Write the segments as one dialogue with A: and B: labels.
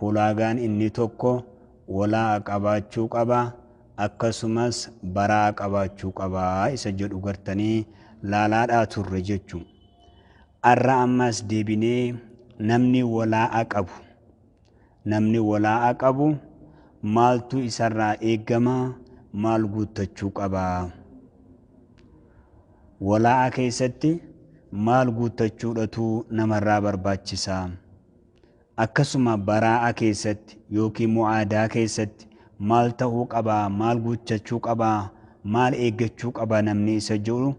A: Hulaagaan inni tokko wala'a qabaachuu qaba akkasumas bara'a qabaachuu qaba isa jedhu gartanii laalaadhaa turre jechu. Arra ammas deebinee namni walaa'a qabu namni walaa'a qabu maaltu isarraa eegama maal guuttachuu qaba? Walaa'a keessatti maal guuttachuudhatu namarraa barbaachisa? Akkasuma baraa'a keessatti ykn mu'aadaa keessatti maal ta'uu qaba, maal guuttachuu qaba, maal eeggachuu qaba namni isa jedhu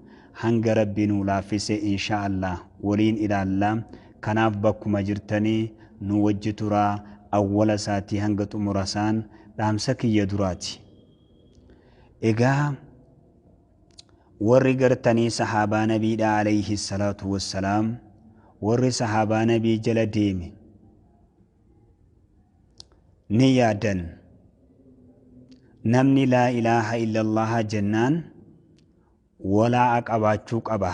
A: hanga Rabbi nuu laaffise inshaa Allaah waliin ilaalla. Kanaaf bakkuma jirtanii nuu wajji turaa awwala isaatii hanga xumura isaan dhaamsa kiyya duraati. Egaa. Warri gartanii sahaabaa nabiidha aleyhi salaatu wassalaam warri sahaabaa nabii jala deeme ni yaadan namni laa ilaaha illallaha jennaan walaa'a qabaachuu qaba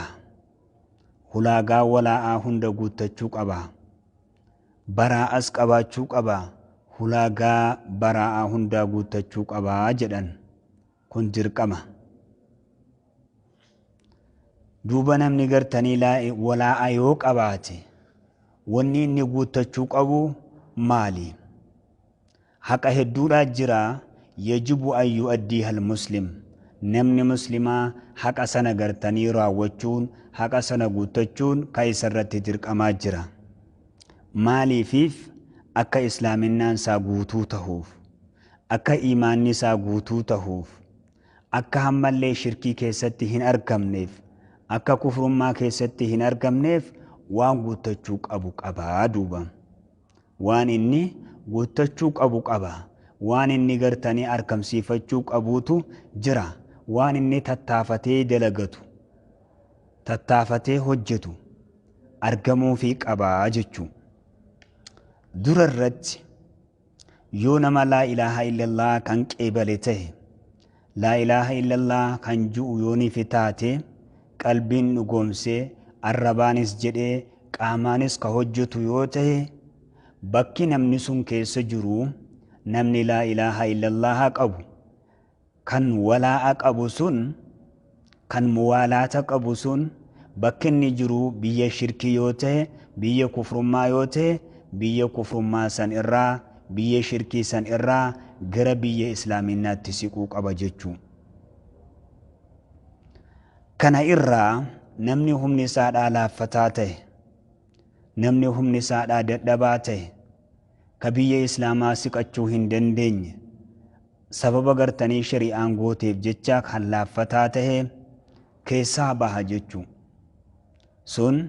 A: hulaagaa walaa'aa hunda guuttachuu qaba baraa'as qabaachuu qaba hulaagaa baraa'aa hundaa guuttachuu qaba jedhan kun dirqama duuba namni gartanii laa- walaa'a yoo qabaate wanni inni guuttachuu qabu maali haqa hedduudhaa jira yajibu an yu'addiiha almuslim namni muslimaa haqa sana gartanii raawwachuun haqa sana guuttachuun ka isa irratti dirqamaa jira maaliifiif akka islaaminaan isaa guutuu tahuuf akka iimaanni isaa guutuu tahuuf, akka hammallee shirkii keessatti hin argamneef, akka kufrummaa keessatti hin argamneef waan guuttachuu qabu qaba. Duuba waan inni guuttachuu qabu qaba. Waan inni gartanii arkamsiifachuu qabuutu jira. Waan inni tattaafatee dalagatu, tattaafatee hojjetu argamuufii qaba jechuu. Dura irratti Yoo nama laa ilaaha illallah kan qeebale tahe, laa ilaaha illallah kan ju'u yoo nifi taate, qalbiin dhugoomsee, arrabaanis jedhee, qaamaanis ka hojjatu yoo tahe, bakki namni sun keessa jiru, namni laa ilaaha illallah qabu, Kan walaa'a qabu sun, kan muwaalaata qabu sun, bakki inni jiru biyya shirkii yoo ta'e, biyya kufrummaa yoo ta'e, biyya kufrummaa san irraa, biyya shirkii san irraa gara biyya islaaminnaatti siquu qaba jechuu. Kana irraa namni humni isaadhaa laaffataa ta'e, namni humni isaadhaa dadhabaa ta'e, ka biyya islaamaa siqachuu hin dandeenye, Sababa gartanii shari'aan gooteef jecha kan laaffataa tahe keessaa baha jechu. Sun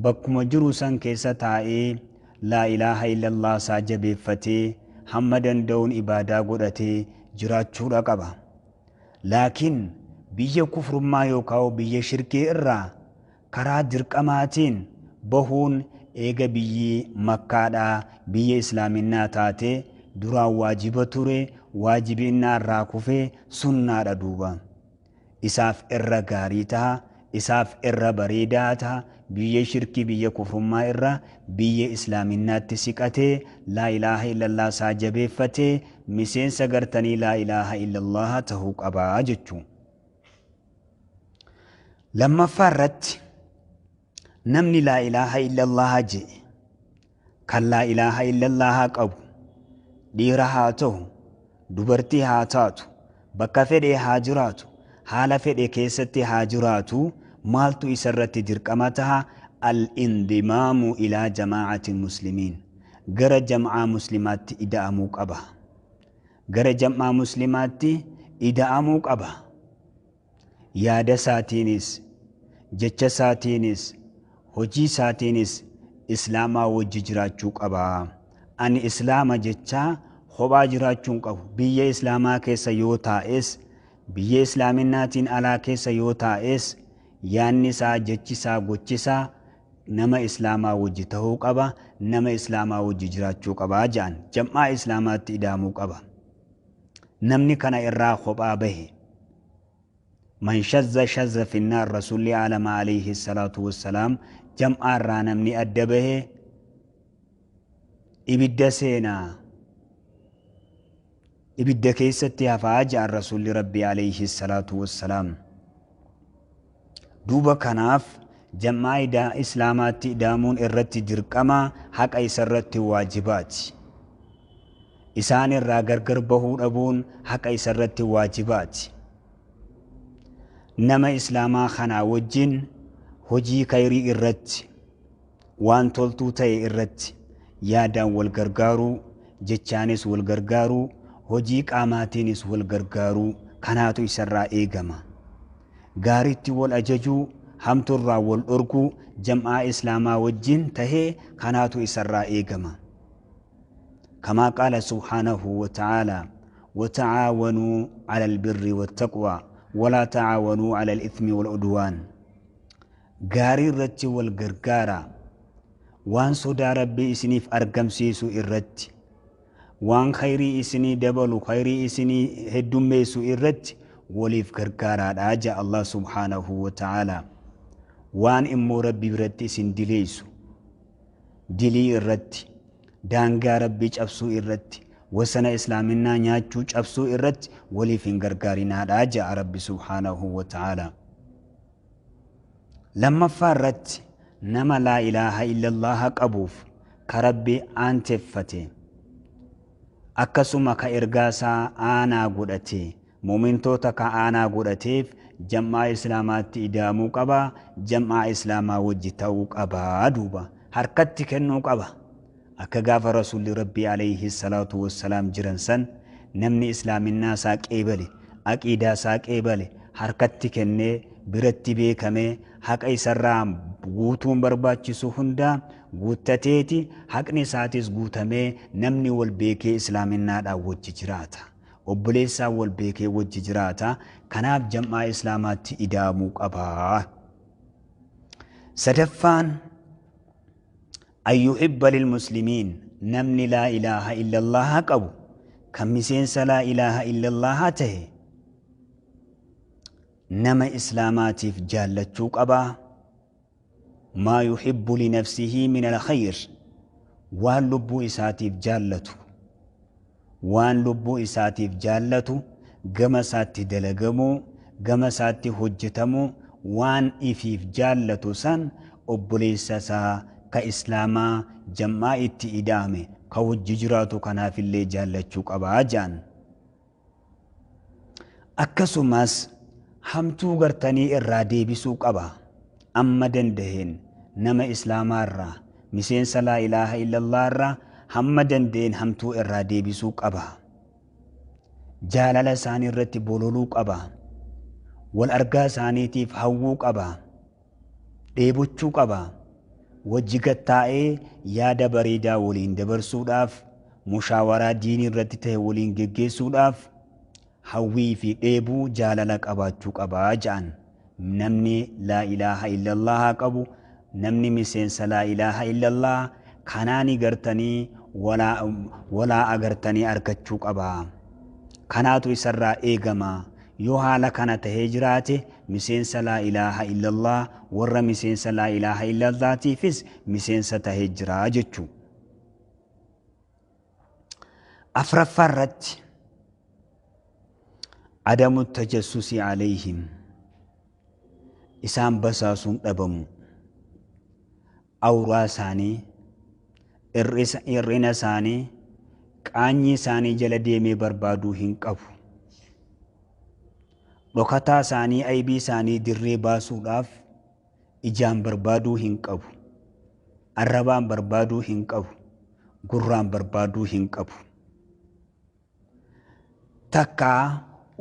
A: bakkuma jiru san keessa taa'ee laa ilaaha illallah isaa jabeeffatee hamma danda'uun ibaadaa godhatee jiraachuudha qaba. Laakiin biyya kufrummaa yookaa biyya shirkii irraa Karaa dirqamaatiin bahuun eega biyyi Makkaadhaa biyya Islaaminnaa taatee duraan waajiba ture, waajibinnaa irraa kufee sunnaadha duuba. Isaaf irra gaarii taha, isaaf irra bareedaa taha, biyya shirkii biyya kufrummaa irraa biyya Islaaminnaatti siqatee, Laa ilaaha illallaah isaa jabeeffatee, miseensa gartanii Laa ilaaha illallaah tahuu qaba jechuu. lammaffaa irratti namni laa ilaaha illallaha je'e kan laa ilaaha illallaha qabu dhiira haa ta'u dubartii haa taatu bakka fedhe haa jiraatu haala fedhe keessatti haa jiraatu maaltu isa irratti dirqama taha al-indimaamu ilaa jamaacati muslimiin gara jam'aa muslimaatti ida'amuu qaba Gara jam'aa muslimaatti ida'amuu qaba. Yaadasaatiinis, jechasaatiinis, hojiisaatiinis islaamaa wajji jiraachuu qaba. Ani islaama jechaa kophaa jiraachuu hin qabu. Biyya islaamaa keessa yoo taa'es, biyya islaaminaatiin alaa keessa yoo taa'es, Yaanni isaa, jechi isaa, gochi isaa nama Islaamaa wajji tahuu qaba, nama Islaamaa wajji jiraachuu qaba ja'an. Jam'aa Islaamaatti idaamuu qaba. Namni kana irraa kophaa bahe, Man shazza shazza fi nnaar Rasuulli Aalama Aleyhi Salaatu Wassalaam jam'aa irraa namni adda bahe ibidda seena. Ibidda keessatti hafaa ja'an Rasuulli Rabbii Aleeyhi Salaatu Wassalaam. Duuba kanaaf jam'aa ida Islaamaatti ida'amuun irratti dirqama, haqa isarratti waajibaati. Isaan irraa gargar bahuu dhabuun haqa isarratti waajibaati. Nama Islaamaa kanaa wajjin hojii khayrii irratti. Waan toltuu ta'e irratti yaadaan wal gargaaruu, jechaanis wal gargaaruu, hojii qaamaatiinis wal gargaaruu kanaatu isarraa eegama. Gaariitti wal ajajuu, hamtuurraa wal dhorguu jam'aa Islaamaa wajjin tahe kanaatu isarraa eegama. Kamaa qaala subhaanahu wa ta'aalaa, Wata'aawanuu 'alal birri wattaqwaa, walaa ta'aawanuu 'alal ithmi wal 'udwaan. Gaarii irratti wal gargaaraa. Waan sodaa Rabbii isiniif argamsiisu irratti, waan khayrii isinii dabalu, khayrii isinii heddummeessu irratti waliif gargaaraadha ja Allah subhaanahu wa ta'aalaa. Waan immoo Rabbi biratti isin dileessu, dilii irratti, daangaa Rabbii cabsuu irratti, wasana Islaaminaa nyaachuu cabsuu irratti waliif hin gargaarinaadha ja'a Rabbi subhaanahu wa ta'aalaa. Lammaffaa irratti nama laa ilaaha illallaaha qabuuf ka Rabbi aanteffate akkasuma ka ergaa isaa aanaa godhate mu'mintoota ka aanaa godhateef jam'aa islaamaatti idaamuu qaba jam'aa islaamaa wajji ta'uu qaba duuba harkatti kennuu qaba Akka gaafa Rasuulli Rabbii Aleeyhi salaatu wassalaam jiran san namni Islaaminaa isaa qeebale, aqiidaa isaa qeebale, harkatti kennee, biratti beekamee, haqa isarraa guutuun barbaachisu hundaa guuttateeti, haqni isaatis guutamee namni wal beekee Islaaminaadhaan wajji jiraata. Obboleessaan wal beekee wajji jiraata. Kanaaf jam'aa Islaamaatti ida'amuu qaba. Sadaffaan, An yuhibba lilmuslimiin namni laa ilaaha illallaaha qabu kan miseensa laa ilaaha illallaaha tahe nama islaamaatiif jaallachuu qaba maa yuhibbu linafsihii min alkhayr waan lubbuu isaatiif jaallatu waan lubbuu isaatiif jaallatu, gama isaatti dalagamuu, gama isaatti hojjetamu, waan ifiif jaallatu san obboleessa isaa ka Islaamaa jam'aa itti ida'ame ka wajji jiraatu kanaafillee jaallachuu qaba je'an. Akkasumas hamtuu gartanii irraa deebisuu qaba. Amma danda'een nama Islaamaa irraa, miseensa Laa ilaaha illallah irraa hamma danda'een hamtuu irraa deebisuu qaba. Jaalala isaanii irratti bololuu qaba. Wal argaa isaaniitiif hawwuu qaba. dheebochuu qaba. Wajji gad taa'ee yaada bareedaa waliin dabarsuudhaaf, mushaawaraa diinii irratti tahe waliin geggeessuudhaaf hawwii fi dheebuu jaalala qabaachuu qaba ja'an. Namni Laa ilaaha illallaha qabu, namni miseensa Laa ilaaha illallaha kanaani gartanii walaa walaa agartanii arkachuu qaba. Kanaatu isarraa eegama. Yoo haala kana tahee jiraate, miseensa Laa ilaaha illallah, warra miseensa Laa ilaaha illallah tiifis miseensa tahee jira jechuu. Afraffaa irratti Adamu tajassusi alayhim isaan basaasuun dhabamuu. awuraa isaanii, hir'isa, hir'ina isaanii, qaanyii isaanii jala deemee barbaaduu hin qabu. Dhokataa isaanii, aybii isaanii dirree baasuudhaaf ijaan barbaaduu hin qabu. Arrabaan barbaaduu hin qabu. Gurraan barbaaduu hin qabu. Takkaa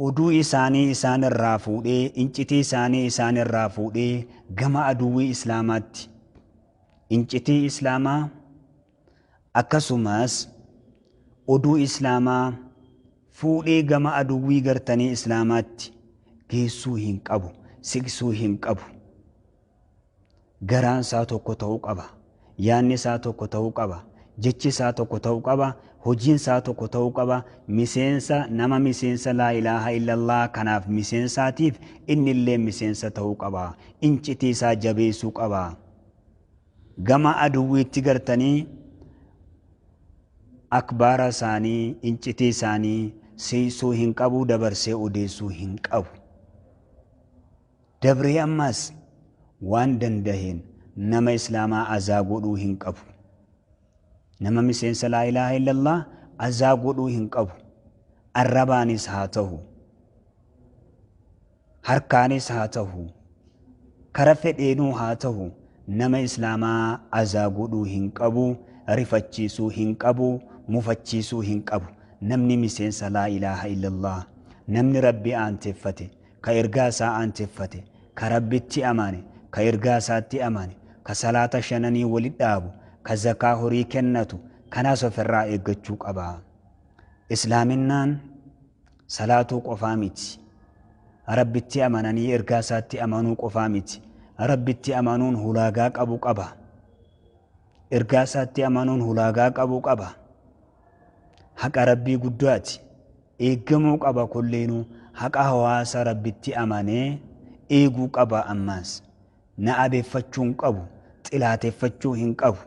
A: oduu isaanii isaan irraa fuudhee, incitii isaanii isaan irraa fuudhee gama aduwwii Islaamaatti, incitii Islaamaa akkasumas oduu Islaamaa fuudhee gama aduwwii gartanii Islaamaatti geessuu hin qabu, siqsuu hin qabu. Garaan isaa tokko ta'uu qaba. Yaadni isaa tokko ta'uu qaba. Jechi isaa tokko ta'uu qaba. Hojiin isaa tokko ta'uu qaba. Miseensa, nama miseensa Laa ilaaha illallaah kanaaf miseensaatiif inni illee miseensa ta'uu qaba. Incitii isaa jabeessuu qaba. Gama aduwwiitti gartanii akbaara isaanii, incitii isaanii siiqsuu hin qabu, dabarsee odeessuu hin qabu. dabree ammaas waan dandaheen nama islaamaa azaa godhuu hin qabu nama miseensa laa ilaaha illallah azaa godhuu hin qabu arrabaanis haa tahu harkaanis haa tahu kara fedheenuu haa tahu nama islaamaa azaa godhuu hin qabu rifachiisuu hin qabu mufachiisuu hin qabu namni miseensa laa ilaaha illallah namni rabbi aanteffate ka ergaa isaa aancheffate, ka Rabbitti amane, ka ergaa isaatti amane, ka salaata shananii wali dhaabu, ka zakaa horii kennatu, kanaas of irraa eeggachuu qaba. Islaaminnaan salaatuu qofaa miti. Rabbitti amananii ergaa isaatti amanuu qofaa miti. Rabbitti amanuun hulaagaa qabu qaba. Ergaa isaatti amanuun hulaagaa qabu qaba. Haqa Rabbii guddaati. Eeggamuu qaba kulleenuu haqa hawaasa Rabbitti amanee eeguu qaba ammaas. Na abeeffachuu hin qabu, xilaateffachuu hin qabu.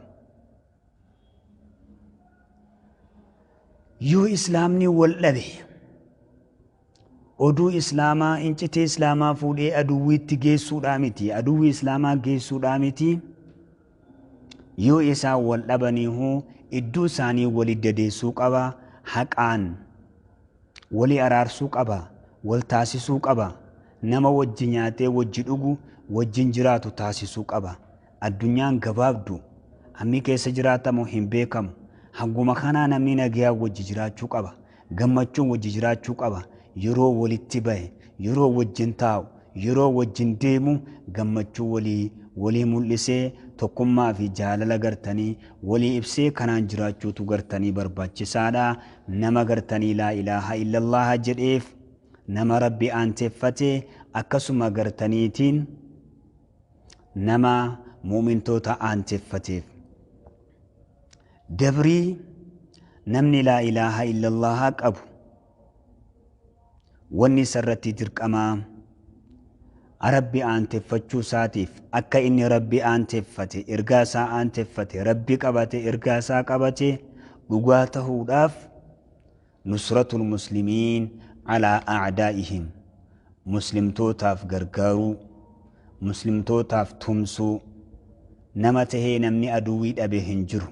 A: Yoo Islaamni wal dhabe. Oduu Islaamaa, Incitii Islaamaa fuudhee aduwwiitti geessuudhaa miti, aduwwi Islaamaa geessuudhaa miti, yoo isaan wal dhabaniihuu idduu isaanii wali dadeessuu qaba, haqaan wali araarsuu qaba, wal taasisuu qaba, nama wajji nyaatee wajji dhugu wajjin jiraatu taasisuu qaba. Addunyaan gabaabdu. Ammi keessa jiraatamu hin beekamu. Hanguma kanaa namni nagayaa wajji jiraachuu qaba. Gammachuun wajji jiraachuu qaba. Yeroo walitti bahe, yeroo wajjin taa'u, yeroo wajjin deemu gammachuu walii walii mul'isee tokkummaa fi jaalala gartanii walii ibsee kanaan jiraachuutu gartanii barbaachisaadha. Nama gartanii laa ilaaha illallaaha jedheef, nama Rabbi aanteffate akkasuma gartaniitiin, nama mu'mintoota aanjeffateef. Dabrii namni laa ilaaha illallaha qabu wanni isa irratti dirqamaa rabbi aanteffachuu isaatiif akka inni rabbi aanteffate ergaa isaa aanteffate rabbi qabate ergaa isaa qabate dhugaa tahuudhaaf Nusratu lmuslimiin alaa a'daa'ihim Muslimtootaaf gargaaruu, Muslimtootaaf tumsuu, Nama tahee namni aduwwii dhabe hin jiru.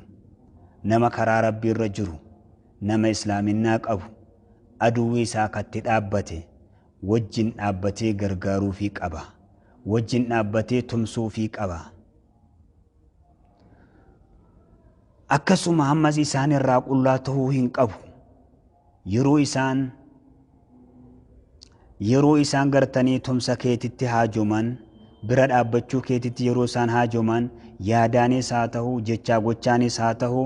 A: Nama karaa Rabbii irra jiru, nama Islaaminnaa qabu, aduwwii isaa ka itti dhaabbate wajjin dhaabbatee gargaaruufii qaba. Wajjin dhaabbatee tumsuufii qaba. akkasuma ammas isaan irraa qullaa ta'uu hin qabu yeroo isaan yeroo isaan gartanii tumsa keetitti haajoman bira dhaabbachuu keetitti yeroo isaan haajoman yaadaanis haa ta'u jechaa gochaanis haa ta'u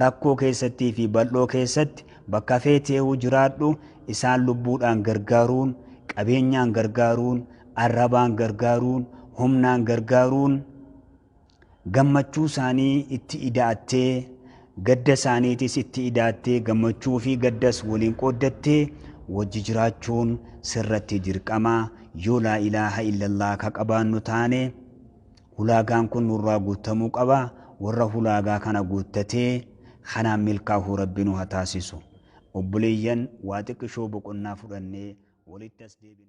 A: rakkoo keessattii fi bal'oo keessatti bakka feeteehu jiraadhu isaan lubbuudhaan gargaaruun qabeenyaan gargaaruun arrabaan gargaaruun humnaan gargaaruun gammachuu isaanii itti ida'attee gadda isaaniitis itti ida'attee gammachuu fi gaddas waliin qooddattee wajji jiraachuun sirratti dirqama yoo laa ilaaha illallah ka qabaannu taane hulaagaan kun nurraa guuttamuu qaba warra hulaagaa kana guuttatee kanaan milkaahuu rabbi nu ha taasisu obboleeyyan waa xiqqishoo boqonnaa fudhannee walitti as deebina